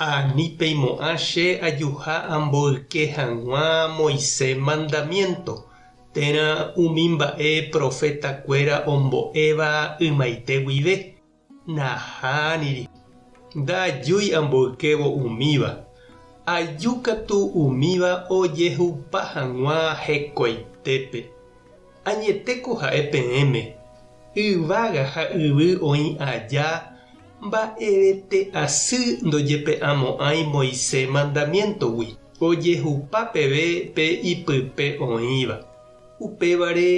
Ha ni peimo'ã che ajuha amboyke hag̃ua Moise mandamiénto, térã umi mba'e proféta kuéra ombo'éva ymaite guive, naha niri. Ndaajúi amboykévo umíva, aju katu umíva ojehupa hag̃ua hekoitépe. Añetéko ha'e peẽme, yvága ha yvy oĩ aja, mba'evete asy ndojepe'amo'ãi Moisés mandamiéntogui, ojehupa peve pe ipype oĩva. Upévare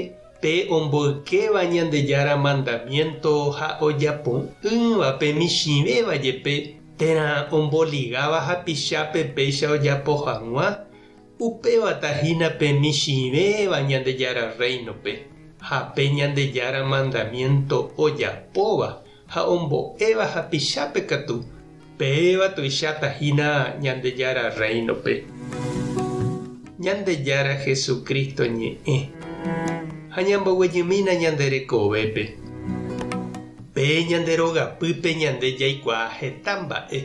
pe omboykéva Ñandejára mandamiénto ha ojapo'ỹva pe michĩvéva jepe, térã omboligáva hapichápe péicha ojapo hag̃ua, Upéva tahína pe michĩvéva Ñandejára Rréinope ha pe Ñandejára mandamiénto ojapóva ha ombo'éva hapichápe katu, péva tuicháta hína Ñandejára Rréinope. Ñandejára Jesucristo ñe'ẽ ha ñamboguejymína ñande rekovépe. Pe ñande rogapýpe ñande jaikuaa heta mba'e.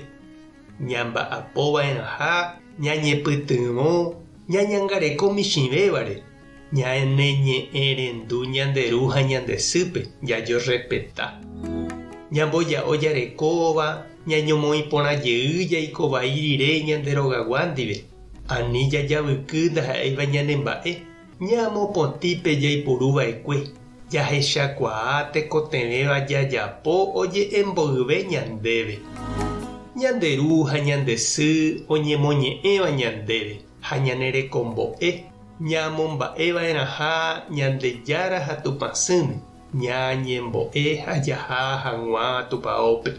ñamba'apova'erãha ñañepytyvõ ñañangareko michĩvévare, ñaneñe'ẽrendu ñande ru ha ñande sýpe, jajerrespeta, ñamboja'o jarekóva, ñañomoĩ porã jey jaiko vai rire ñande rogagua ndive, ani jajavyky ndaha'éiva ñanemba'e. Ñamopotĩpe jaipuru va'ekue, jahechakuaa tekotevẽva jajapo oje'emboyve ñandéve. Ñande Ru ha ñande Sy oñemoñe'ẽva ñandéve ha ñane rekombo'e, ñamomba'e va'erãha Ñandejára ha Tupã Sỹme, ñañembo'e ha jaha hag̃ua Tupaópe.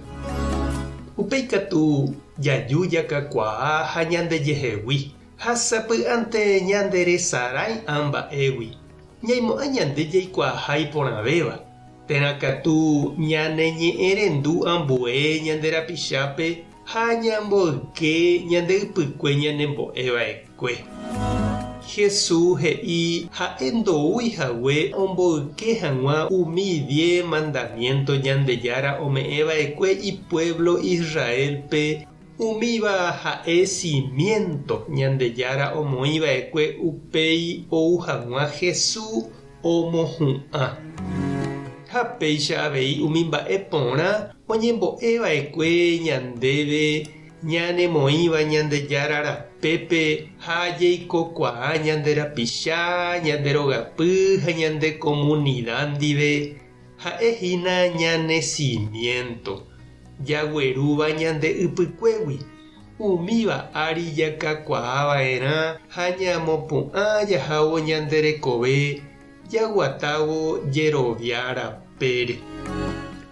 Upéi katu, jaju jakakuaa ha ñandejehegui. Ha sapy'ánte ñanderesarãi'ã mba'égui, ñaimo'ã ñande jaikuaaha iporãvéva, térã katu ñaneñe'ẽrendu ambue ñande rapichápe ha ñamboyke ñande ypykue ñanembo'e va'ekue. Jesús he'i ha'e ndoúi hague omboyke hag̃ua umi diez mandamiénto Ñandejára ome'ẽ va'ekue ipuévlo Israélpe. Umíva ha'e simiénto Ñandejára omoĩ va'ekue upéi ou hag̃ua Hesu omohu'ã. Ha péicha avei umi mba'e porã oñembo'e va'ekue ñandéve ñanemoĩva Ñandejára rapépe ha jeikokuaa ñande rapicha, ñande rogapy ha ñande komunida ndive. Ha'e hína ñane simiénto, jaguerúva ñande ypykuégui, umíva ári jakakuaa va'erã ha ñamopu'ã jahávo ñande rekove jaguatávo jerovia rapére.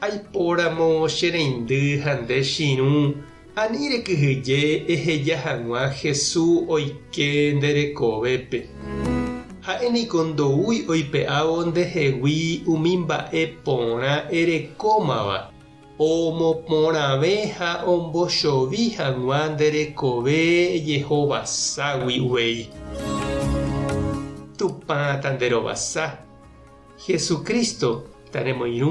Aipóramo che reindy ha nde chirũ Ani rekyhyje eheja hag̃ua Hesu oike nde rekovépe. Ha'e niko ndoúi oipe'ávo nde hegui umi mba'e porã erekómava, omoporãve ha ombochovi hag̃ua nde rekove ejehovaságui uvei. Tupã ta nde rovasa. Hesu Crísto ta remoirũ.